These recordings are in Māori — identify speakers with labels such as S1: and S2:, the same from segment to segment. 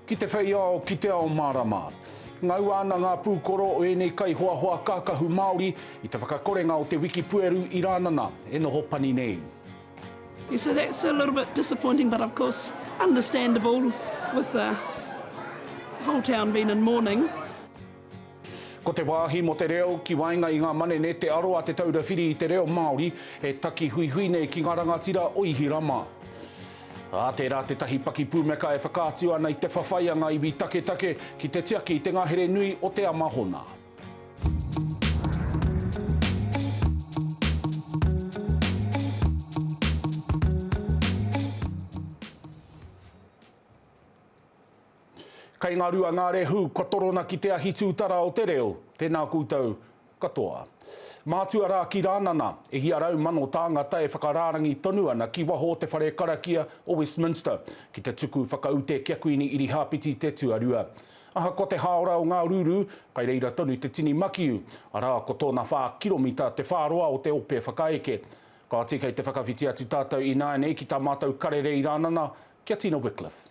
S1: Ki te whei ao, ki te ao mārama. Ngaua ana ngā pūkoro o ēnei kaihoahoa kākahu Māori i te whakakorenga o te wiki pueru i Rānana e noho pani nei. Yeah, so
S2: that's a little bit disappointing, but of course understandable with the whole town being in mourning.
S1: Ko te wāhi mō te reo ki waenga i ngā manene Te Aro a Te Taura Whiri i te Reo Māori e taki huihui nei ki ngā rangatira o Ihirama. Ā, tērā tētahi pakipūmeka e whakaatu ana i te whawhai a ngā iwi taketake ki te tiaki i te ngahere nui o te Amahona. Kei nga rua nga rehu kua torona ki te ahi tutara o te reo, tena koutou katoa. Mātua rā ki Rānana, e hia rau mano tāngata e whakarārangi tonu ana ki waho o te whare karakia o Westminster ki te tuku whakaute ki a Kuini Irihāpeti te Tuarua. Ahakoa te hāora o ngā rūrū, kai reira tonu te tini makiu, arā ko tōna whā kiromita te whāroa o te ope whakaeke. Kāti kei te whakawhiti atu tātou ināianei ki tā mātou karere i Rānana, ki a Tina Wickliffe.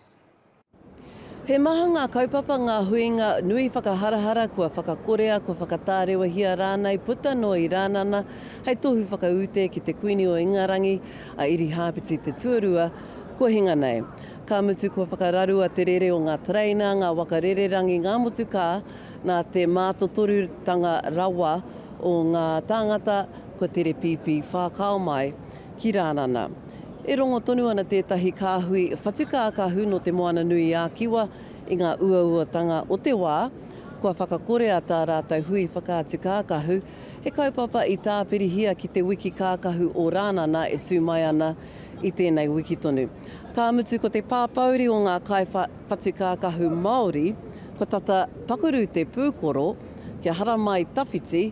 S3: He maha ngā kaupapa, ngā huinga nui whakaharahara kua whakakorea, kua whakatārewahia rānei, puta noa i Rānana hei tohu whakaute ki te Kuini o Ingarangi, a Irihāpeti te Tuarua, kua hinga nei. Ka mutu kua whakararua te rere o ngā tereina, ngā waka rererangi, ngā motukā, nā te mātotorutanga rawa o ngā tāngata kua tere pīpī whākao mai. ki Rānana. E rongo tonu ana tētahi kāhui whatukākahu nō Te Moana-nui-ā-Kiwa i ngā uauatanga o te wā, kua whakakorea tā rātou hui whakaatu kākahu, he kaupapa i tāpirihia ki te wiki kākahu o Rānana e tū mai ana i tēnei wiki tonu. Ka mutu ko te pāpāuri o ngā kaiwhatukākahu Māori, kua tata pakurū te pūkoro kia haramai tawhiti,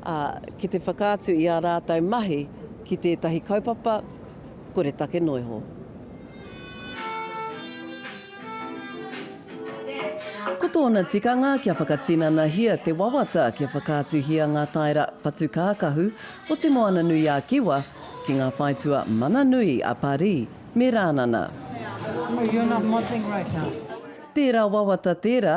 S3: ā, ki te whakaatu i ā rātou mahi ki tētahi kaupapa koretake noa iho. Ko tōna tikanga kia whakatinanahia te wawata kia whakaatuhia ngā taera patu kākahu o Te Moana-nui-a-Kiwa ki ngā whaitua mana nui a Parī me Rānana.
S4: Tērā wawata
S3: tērā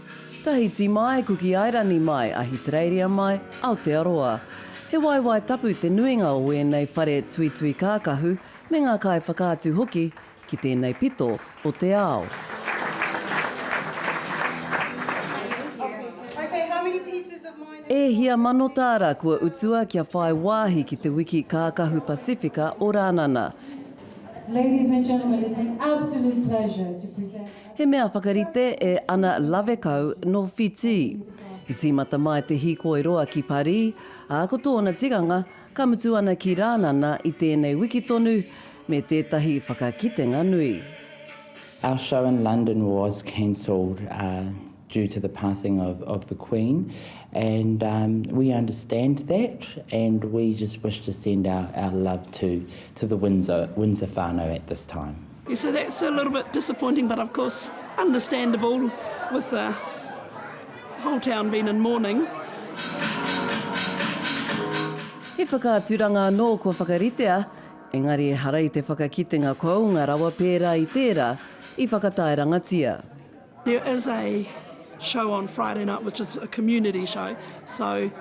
S5: Tahiti mai,
S3: Kuki Airani mai, Ahitereiria mai, Aotearoa. He waewae tapu te nuinga o ēnei whare tuitui kākahu me ngā kaiwhakaatu hoki ki tēnei pito o te ao. E hia mano tāra kua utua kia whai wāhi ki te wiki kākahu Pasifika o Rānana.
S4: He mea whakarite
S3: e Ana Lavekau nō Whitī. I tīmata mai te hīkoi roa ki Parī, ā, ko tōna tikanga, ka mutu ana ki Rānana i tēnei wiki tonu, me tētahi whakakitenga nui. Our
S6: show in London was cancelled due to the passing of of the Queen and we understand that and we just wish to send our our love to to the Windsor Windsor whanau at this time. He so that's a little
S2: bit disappointing but of course understandable with the whole town being in mourning.
S3: He whakaaturanga anō kua whakaritea, engari ehara i te whakakitenga kounga rawa pērā i tērā i whakataerangatia. There is
S2: a show on Friday night which is a community show so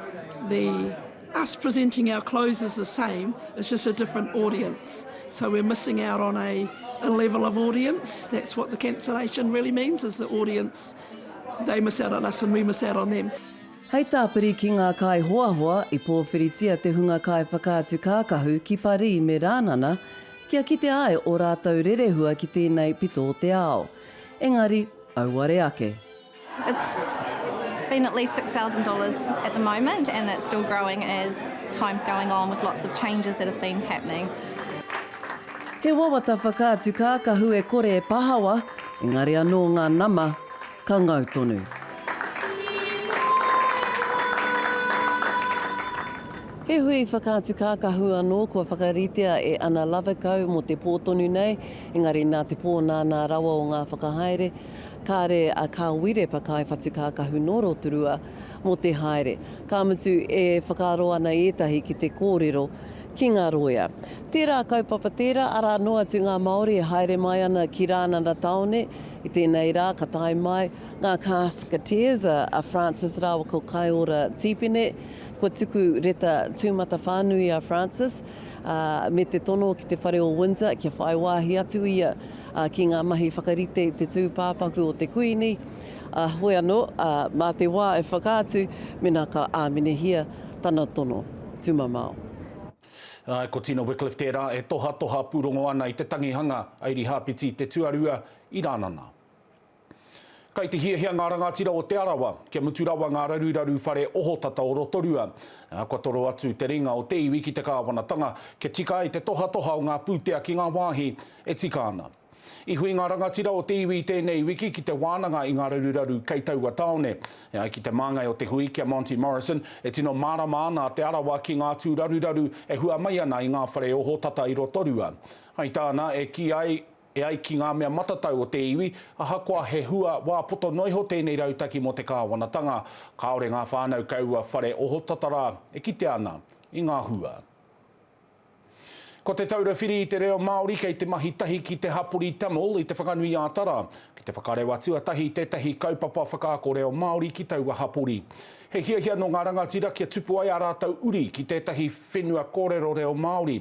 S2: the us presenting our clothes is the same it's just a different audience so we're missing out on a a level of audience that's what the cancellation really means is the audience they miss out on us and we miss out on them. Hei tāpiri
S3: ki ngā kaihoahoa i pōwhiritia te hunga kaiwhakaatu kākahu ki Parī me Rānana kia kitea ai ō rātou rerehua ki tēnei pito o te ao. Engari, auare ake. It's
S5: been at least six thousand dollars at the moment and it's still growing as time's going on with lots of changes that have been happening.
S3: He wawata whakaatu kākahu e kore e pahawa, engari anō ngā nama ka ngau tonu. He hui whakaatu kākahu anō kua whakaritea e Ana Lovekau mō te pō tonu nei, Engari nā te pō nānā rawa o ngā whakahaere, kāre a Kā Wire pa Kaiwhatukākahu nō Rotorua mō te haere. Ka mutu e whakaaro ana ētahi ki te kōrero ki ngā rōia. Tērā kaupapa tērā, arā noa atu ngā Māori e haere mai ana ki Rānana Tāone, i tēnei rā ka tae mai ngā Casketeers, a Frances rāua ko Kaeora Tīpene. Kua tuku reta tūmatawhānui a Frances, me te tono ki te whare o Windsor kia whai wāhi atu ia ki ngā mahi whakarite i te tūpāpaku o te Kuini, a hoi anō, mā te wā e whakaatu mena ka āminehia tana tono tumamao.
S1: Āe, ko Tina Wickliffe tērā e tohatoha pūrongo ana i te tangihanga a Irihāpeti Te Tuarua i Rānana. Kai te hiahia ngā rangatira o Te Arawa, kia mutu rawa ngā raruraru whare ohotata o Rotorua, ā, kua toro atu te ringa o te iwi ki te kāwanatanga, kia tika ai te tohatoha o ngā pūtea ki ngā wāhi e tika ana. I hui ngā rangatira o te iwi i tēnei wiki ki te wānanga i ngā raruraru kei taua tāone. E ai ki te māngai o te hui, ki a Monty Morrison, e tino mārama ana a Te Arawa ki ngā tū raruraru e hua mai ana i ngā whare ohotata i Rotorua. Hai tāna, e kī ai, E ai ki ngā mea matatau o te iwi, ahakoa he hua wā poto noa iho tēnei rautaki mō te kāwanatanga, kāore ngā whānau kei ua whare ohotata rā e kitea ana i ngā hua. Ko Te Taura Whiri i te Reo Māori kei te mahi tahi ki te hapori Tamil i Te Whanganui-ā-Tara ki te whakareuā tuatahi i tētahi kaupapa whakaako reo Māori ki taua hapori. He hiahia nō ngā rangatira kia tupu ai ā rātou uri ki tētahi whenua kōrero reo Māori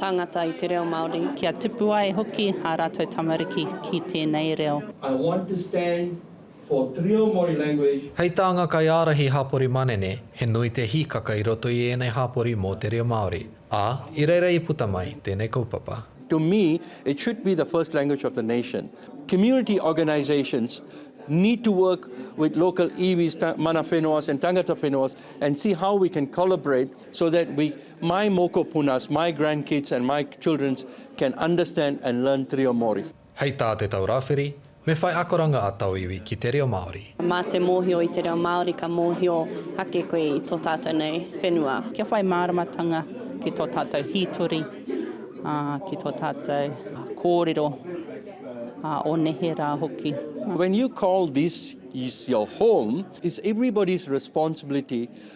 S7: Tāngata i te reo Māori. Kia tipu ai
S8: hoki ā rātou tamariki ki tēnei reo. I want to stand
S9: for te reo Māori language. Hei tānga kaiārahi
S10: hapori manene, he nui te hīkaka i roto i ēnei hapori mō te reo Māori, ā, i reira i puta mai tēnei kaupapa. To me,
S9: it should be the first language of the nation. Community organisations need to work with local iwis, mana whenuas and tangata whenuas and see how we can collaborate so that we My mokopunas, my grandkids and my childrens can understand and learn te reo Māori. Hei tā Te Tau
S10: Rāwhiri, Me whai akoranga a tōu iwi ki te reo Māori. Mā te mōhio i
S7: te reo Māori ka mōhio ake koe i tō tātou nei whenua. Kia whai māramatanga
S8: ki tō tātou hītori, ā, ki tō tātou kōrero, ā, o nehe rā hoki. When you call
S9: this is your home, it's everybody's responsibility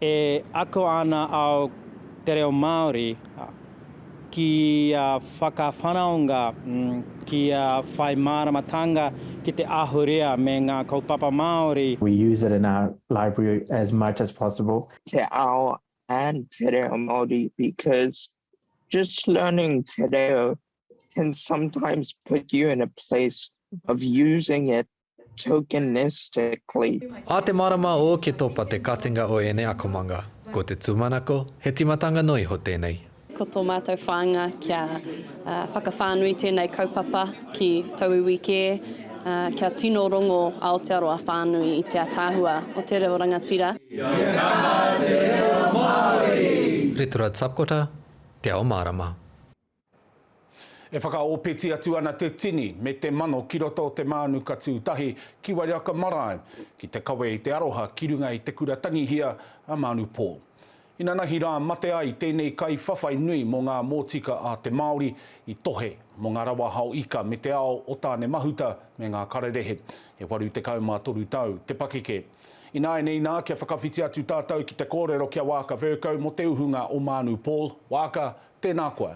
S10: E ako
S8: ana ao te reo Māori kia whakawhanaunga, kia whai māramatanga ki te ahurea me ngā kaupapa Māori. We use it in our
S11: library as much as possible. te ao
S12: and te reo Māori because just learning te reo can sometimes put you in a place of using it tokenistically. A te marama o
S10: ke topa te katinga o ēnei akomanga. Ko te tūmanako, he timatanga noa iho tēnei. Ko tō mātou
S7: whāinga kia whakawhānui tēnei kaupapa ki tauiwi kē, kia tino rongo Aotearoa whānui i te ataahua o te reo rangatira. Kia kaha te reo
S10: Māori! Ritura Tapkota, Te Ao Mārama.
S1: E whakaōpeti atu ana te tini me te mano ki roto o te mānuka tū tahi ki Wairaka Marae, ki te kawe i te aroha ki runga i te kura tangihia a Manu Paul. Inanahi rā mate ai tēnei kaiwhawhai nui mō ngā mōtika a te Māori i tohe mō ngā rawa hao ika me te ao o Tānemahuta me ngā kararehe. E 83 tau te pakeke. Ināianei nā, kia whakawhiti atu tātou ki te kōrero ki a Waaka Vercoe mō te uhunga o Manu Paul, Waaka, Tēnā koe.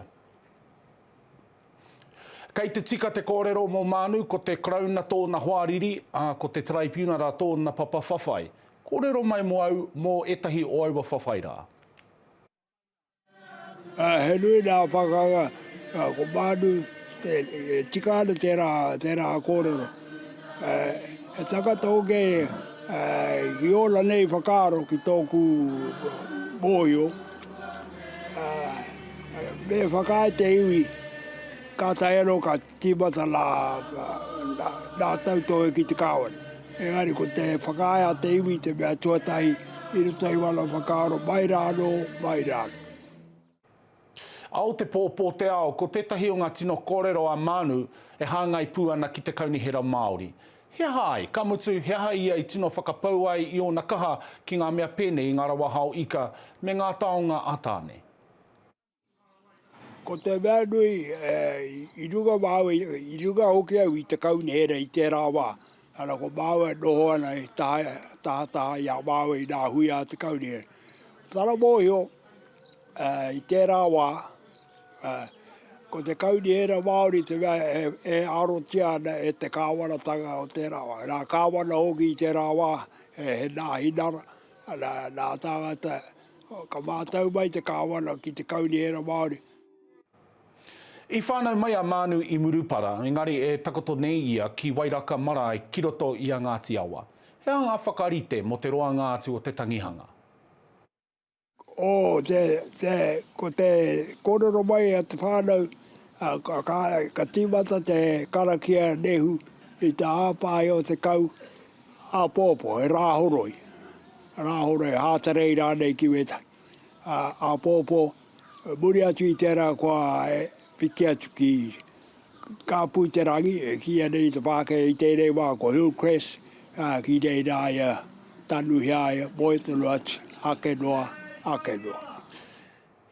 S1: Kei te tika te kōrero mō Mānu ko te Karauna tōna hoariri, ā, ko te Taraipiunara tōna papa whawhai. Kōrero mai mō au mō ētahi o aua whawhai rā.
S13: He nui nā pakanga, ā, ko Mānu te tika ana tērā, tērā kōrero. He tangata hoki i ōna nei whakaaro ki tōku mōhio. Me whakaae te iwi, ka tae anō ka tīmata nā Tautohe ki te kāwana. Engari ko te whakaae a te iwi te mea tuatahi i roto i wana whakaaro mai rā anō, mai rā anō.
S1: Ao te pō, pō te ao, ko tētahi o ngā tino kōrero a Mānu e hāngai pū ana ki te Kaunihera Māori. He aha ai, ka mutu, he aha ia i tino whakapau ai i ōna kaha ki ngā mea pēnei i ngā rawa hao ika me ngā taonga a Tāne?
S13: Ko te mea nui, i runga māua, i runga hoki au i te kaunihera i tērā wā, ana ko māua e noho ana he tahataha i a māua i ngā hui a te kaunihera. Tana mōhio, I tērā wā, ko te kaunihera Māori te mea e arotia ana e te Kāwanatanga o tērā wā. Nā Kāwana hoki i tērā wā, he nāhi nara, nā tāngata, ka mātau mai te Kāwana ki te kaunihera Māori.
S1: I whānau mai a Mānu i Murupara, engari e takoto nei ia ki Wairaka marae ki roto i a Ngāti Awa. He aha ngā whakarite mō te roanga atu o te tangihanga? o
S13: te, te, ko te kōrero mai a te whānau, a, ka, ka, ka tīmata te karakia nehu i te hāpai o te kau āpōpō, he rāhoroi, rāhoroi, hātarei rānei ki wētahi, ā, āpōpō, muri atu i tērā kua e piki atu ki. Ka pū te rangi, e kīia nei te Pākehā i tēnei wā ko Hillcrest, ā, ki reira ai a Tanuhia ai, moe tonu atu, ake noa, ake noa.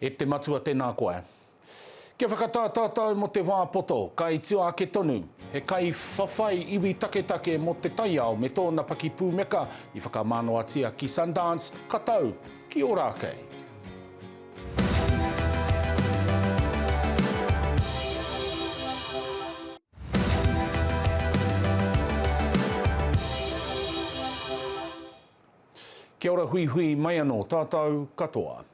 S1: E te Matua tēnā koe. Kia whakatā tātou mō te wā poto, ka i tua ake tonu. He kaiwhawhai iwi taketake mō te taiao me tōna pakipūmeka i whakamānoatia ki Sundance, ka tau ki Ōrākei. Kia ora huihui mai ano tatou katoa.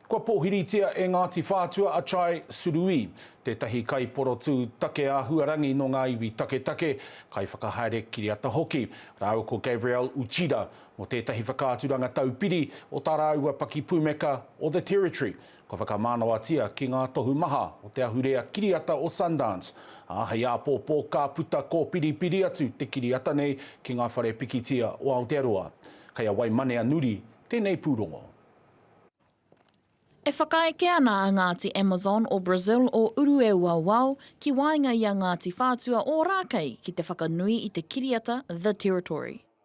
S1: Kua pōhiritia e Ngāti Whātua a Chai Surui, tētahi kaiporotū take āhuarangi nō ngā iwi taketake, kaiwhakahaere kiriata hoki, rāua ko Gabrielle Uchida Mō tētahi whakaaturanga taupiri o tā rāua pakipūmeka o The Territory, kua whakamānawatia ki ngā tohu maha o te ahurea kiriata o Sundance, ā, hei āpōpō ka puta kōpiripiri atu te kiriata nei ki ngā whare pikitia o Aotearoa. Kei a Waimanea Nuri tēnei pūrongo.
S14: E whakaeke ana a Ngāti Amazon o Brazil o Urueuauao ki waenga i a Ngāti Whātua Ōrākei ki te whakanui i te kiriata The Territory.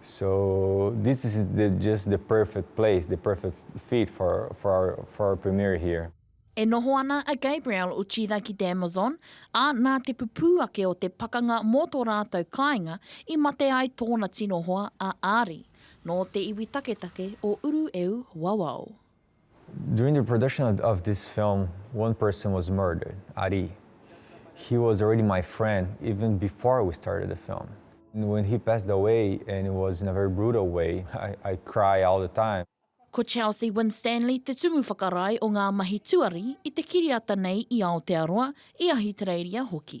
S15: So this is the just the perfect place, the perfect fit for for our for our premiere here. E noho ana
S14: a Gabriel Uchida ki te Amazon, ā, nā te pupū ake o te pakanga mō tō rātou kāinga i mate ai tōna tino hoa a Ari. Nō te iwi taketake o Urueū wawao. During
S15: the production of of this film one person was murdered, Ari. He was already my friend even before we started the film. When he passed away and it was in a very brutal way I I cry all the time. Ko Charles E.
S14: Winstanley te tumu whakarae o ngā mahi tuari i te kiriata nei i Aotearoa, i Ahitereiria hoki.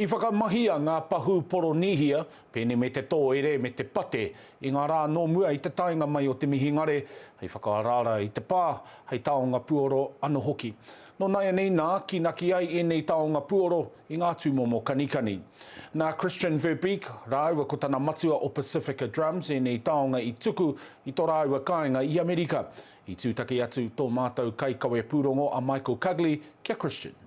S1: I whakamahia ngā pahū Poronīhia, pēnei me te tōere me te pate, i ngā rā nō mua i te taenga mai o te mihingare, hei whakaaraara i te pā, hei taonga puoro anō hoki. Nō nāianei nā, kīnaki ai ēnei taonga puoro i ngā tūmomo kanikani. Nā Christian Verbeek rāua ko tana matua o Pacifica Drums ēnei taonga i tuku i tō rāua kāinga i Amerika. I tūtaki atu tō mātou kaikawe pūrongo a Michael Cugley ki a Christian.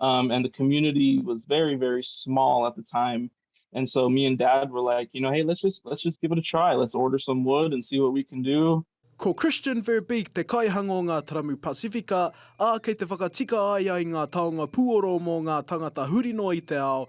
S16: Um, and the community was very, very small at the time. And so me and dad were like, you know, hey, let's just let's just give it a try. Let's order some wood and see what we can do. Ko Christian
S17: Verbeek te kaihanga o ngā taramu Pasifika, ā, kei te whakatika ai ai ngā taonga puoro mō ngā tangata huri noa i te ao,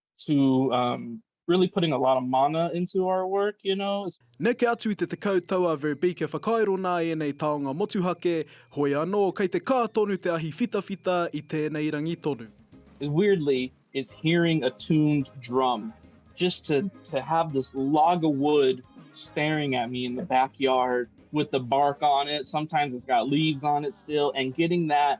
S16: to um, really putting a lot of mana into our work, you know. Neke atu
S17: i te tekau tau a Verbeke whakairo nā ēnei taonga motuhake, hoi anō kei te kā tonu te ahi whitawhita i tēnei rangi tonu. Weirdly,
S16: is hearing a tuned drum, just to, to have this log of wood staring at me in the backyard with the bark on it, sometimes it's got leaves on it still, and getting that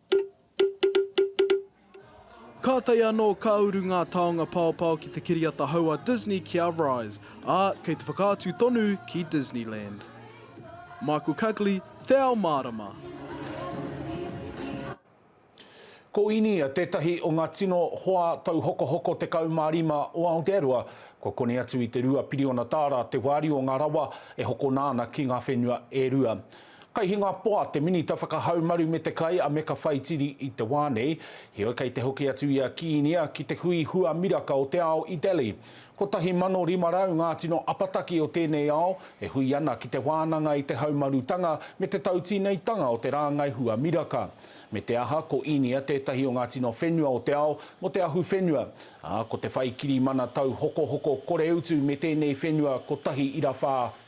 S17: Kātahi anō ka uru ngā taonga paopao ki te kiriata hou a Disney ki a Rise, ā, kei te whakaatu tonu ki Disneyland. Michael Cugley, Te Ao Mārama.
S1: Ko Inia tētahi o ngā tino hoa tauhokohoko 15 o Aotearoa, kua koni atu i te rua piriona tāra te wāriu o ngā rawa e hokona ana ki ngā whenua e rua. Kei Hingapoa te Minita Whakahaumaru me te Kai a Meka Whaitiri i te wā nei, heoi kei te hoki atu i a Kiinia ki te hui hua miraka o te ao i Delhi. 1500 ngā tino apataki o tēnei ao e hui ana ki te wānanga i te haumarutanga me te tautīneitanga o te rāngai hua miraka. Me te aha, ko Inia tētahi o ngā tino whenua o te ao mō te ahuwhenua, ā, ko te whai kirimana tauhokohoko koreutu me tēnei whenua kotahi ira whā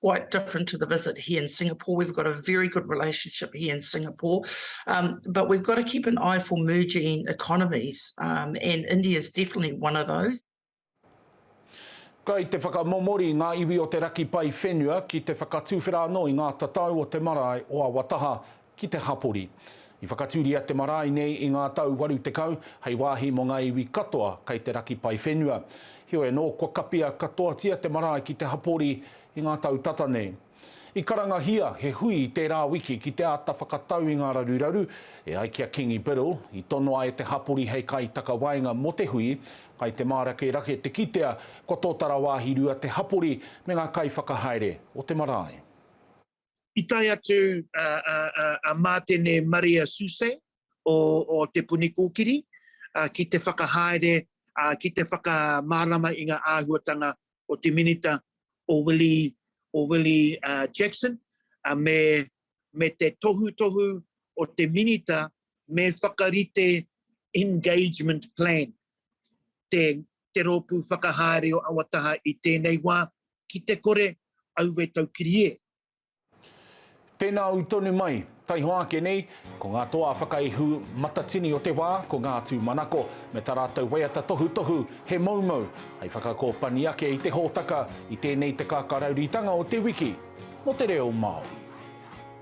S18: quite different to the visit here in Singapore. We've got a very good relationship here in Singapore, um, but we've got to keep an eye for merging economies, um, and India is definitely one of those.
S1: Kai te whakamomori ngā iwi o te raki pai whenua ki te whakatuwhera anō i ngā tatau o te marae o Awataha ki te hapori. I whakatūria te marae nei i ngā tau waru tekau, hei wāhi mō ngā iwi katoa kei te raki pae whenua. Heoi anō, kua kapia katoatia te marae ki te hapori i ngā tau tata nei. I karangahia he hui i tērā wiki ki te āta whakatau i ngā raruraru, e ai ki a Kingi Biddle, i tonoa e te hapori hei kaitakawaenga mō te hui, kai te mārakerake te kitea kua tōtara wāhi rua te hapori me ngā kaiwhakahaere o te marae. I
S4: tae atu a Mātene Maria Suse o Te Puni Kōkiri ki te whakahaere, ki te whakamārama i ngā āhuatanga o te Minita o Willie Jackson me te tohutohu o te Minita me whakarite Engagement Plan te Rōpū Whakahaere o Awataha i tēnei wā, ki te kore au e taukiri e.
S1: Tēnā au tonu mai. Taihoa ake nei, ko ngā toa whakaihu matatini o te wā, ko ngā tūmanako, me tā rātou waiata tohutohu, he moumou, hei whakakōpani ake i te hōtaka, i tēnei te kākāraurītanga o te wiki mō te reo Māori.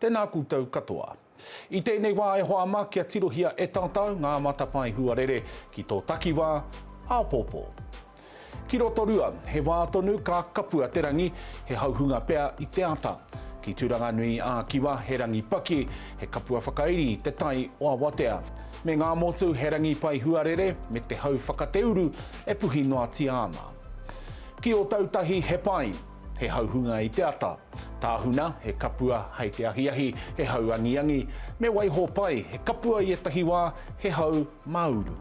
S1: Tēnā koutou katoa. I tēnei wā e hoa ma kia tirohia e tātau ngā matapae huarere ki tō takiwā, āpōpō. Ki Rotorua, he wā tonu ka kapua te rangi, he hauhunga pea i te ata. Ki Turanganui ā Kiwa, he rangi paki, he kapua whakairi i te tai o awatea. Me ngā motu, he rangi pai huarere me te hau whakateuru e puhi noatia ana. Ki Ōtautahi, he pai. He hauhunga i te ata. Tāhuna, he kapua, hei te ahiahi, he hau angiangi. Me waiho pai, he kapua i ētahi wā, he hau māuru.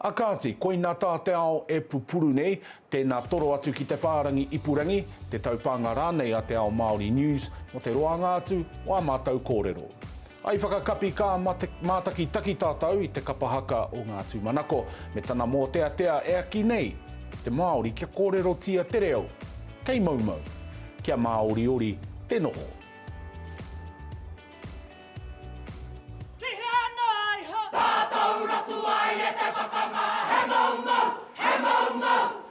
S1: A kāti, koina tā te ao e pupuru nei, tēnā toro atu ki te whārangi ipurangi, te taupānga rānei a Te Ao Māori News mō te roanga atu o ā mātou kōrero. I whakakapi kā mātakitaki tātou i te kapa haka o ngā tūmanako me tana mōteatea e aki nei te Māori kia kōrerotia te reo kei moumou, kia māoriori te noho.
S19: Ki hea noa iho tātou ratua i eke whakamā, he moumou, he moumou.